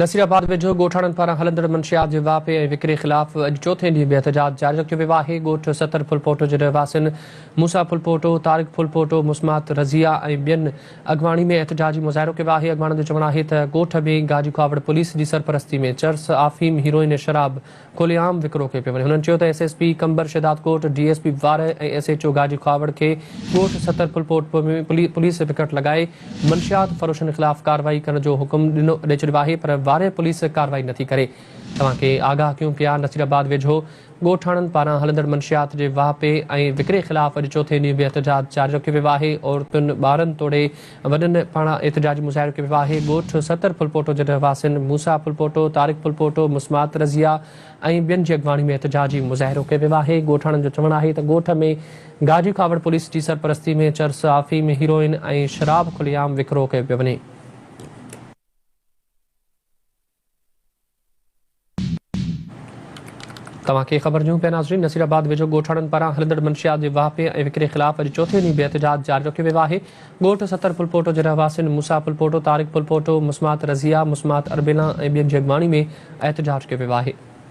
نصير آباد ويجهو ڳوٺاڻن پاران هلندڙ منشيات جي واهپي ۽ وڪري خلاف اڄ چوٿين ڏينهن به احتجاج جاري رکيو ويو آهي. ڳوٺ ستر ڦلپوٽو جي رهواسين موسيٰ ڦلپوٽو، طارق ڦلپوٽو، مسمات رضيه ۽ ٻين اڳواڻي ۾ احتجاجي مظاهرو ڪيو آهي. اڳواڻن جو چوڻ آهي ته ڳوٺ ۾ گاجي کهاوڙ پوليس جي سرپرستي ۾ چرس، آفيم، هيروئن ۽ شراب کلي عام وڪرو ڪيو پيو وڃي هنن چيو ته S S P Qambar Shahdadkot D S P Warah ۽ S H O Gaji Khuhawar کي ڳوٺ سترڦلپوٽ ۾ پوليس پڪٽ لڳائي منشيات فروشن خلاف ڪارروائي ڪرڻ جو حڪم ڏي ڇڏيو آهي پر وارهه پوليس ڪارروائي نٿي ڪري توهان کي آگاهه ڪيون پيا نصيرآباد ويجهو ڳوٺاڻن پاران هلندڙ منشيات جي واهپي ۽ وڪري خلاف اڄ چوٿين ڏينهن به احتجاج جاري رکيو ويو آهي عورتن ٻارن توڙي وڏن پاڻان احتجاجي مظاهرو ڪيو ويو آهي. ڳوٺ ستر ڦلپوٽو جي رهواسين موسيٰ ڦلپوٽو، طارق ڦلپوٽو، مسمات رضيه ۽ ٻين جي اڳواڻي ۾ احتجاجي مظاهرو ڪيو ويو آهي. ڳوٺاڻن جو چوڻ آهي ته ڳوٺ ۾ گاجي ڪاوڙ پوليس جي سرپرستي ۾ چرس، آفيم، هيروئن ۽ شراب کلي عام وڪرو ڪيو پيو وڃي. توهان کي خبر ڏيون پيا ناظرين نصير آباد ويجهو ڳوٺاڻن پاران هلندڙ منشيات جي واهپي ۽ وڪري خلاف اڄ چوٿين ڏينهن به احتجاج جاري رکيو ويو آهي ڳوٺ ستر ڦلپوٽو جي رهواسين موسيٰ ڦلپوٽو طارق ڦلپوٽو مسمات رضيه مسمات اربيلان ۽ ٻين جي اڳواڻي ۾ احتجاج ڪيو ويو آهي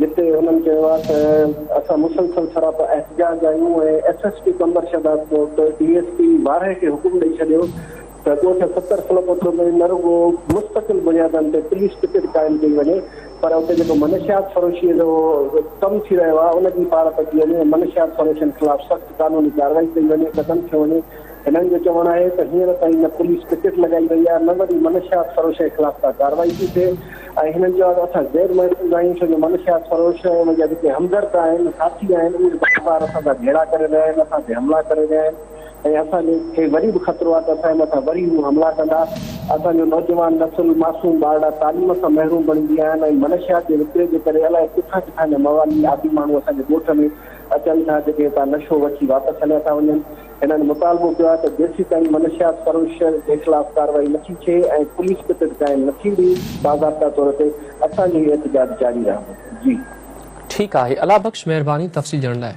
جتي هنن چيو آهي ته اسان مسلسل سراپا احتجاج آهيون ۽ S S P Qambar Shahdadkot D S P وارهي کي حڪم ڏئي ڇڏيو ته ڳوٺ ستر فلپوٿو ۾ نه رڳو مستقل بنيادن تي پوليس پڪيٽ قائم ڪئي وڃي پر اتي جيڪو منشيات فروشي جو ڪم ٿي رهيو آهي ان جي پاڙ پچي وڃي ۽ منشيات فروشن خلاف سخت قانوني ڪارروائي ڪئي وڃي قدم کنيو وڃي هنن جو چوڻ آهي ته هينئر تائين نه پوليس پڪيٽ لڳائي وئي آهي نه وري منشيات فروشن خلاف ڪا ڪارروائي ٿي ٿئي ۽ هنن چيو آهي ته اسان غير محفوظ آهيون ڇو جو منشيات فروش ۽ انهن جا جيڪي همدرد آهن، ساٿي آهن، اهي بار بار اسان سان جهيڙا ڪري رهيا آهن، اسان تي حملا ڪري رهيا آهن ۽ اسان کي وري به خطرو آهي ته اسان جي مٿان وري هو حملا ڪندا. اسان جو نوجوان نسل، معصوم ٻارڙا تعليم کان محروم بڻجي ويا آهن ۽ منشيات جي وڪري جي ڪري الائي ڪٿان ڪٿان جا موالي عادي ماڻهو اسان جي ڳوٺ ۾ اچن ٿا جيڪي هتان نشو وٺي واپس هليا ٿا وڃن. هنن مطالبو ڪيو آهي ته جيسيتائين منشيات فروش جي خلاف ڪارروائي نٿي ٿئي ۽ پوليس پٽڙ قائم نه ٿيندي باضابطه طور تي اسان جو هي احتجاج جاري رهندو. جي. ٺيڪ آهي الله بخش مهرباني تفصيل ڏيڻ لاء.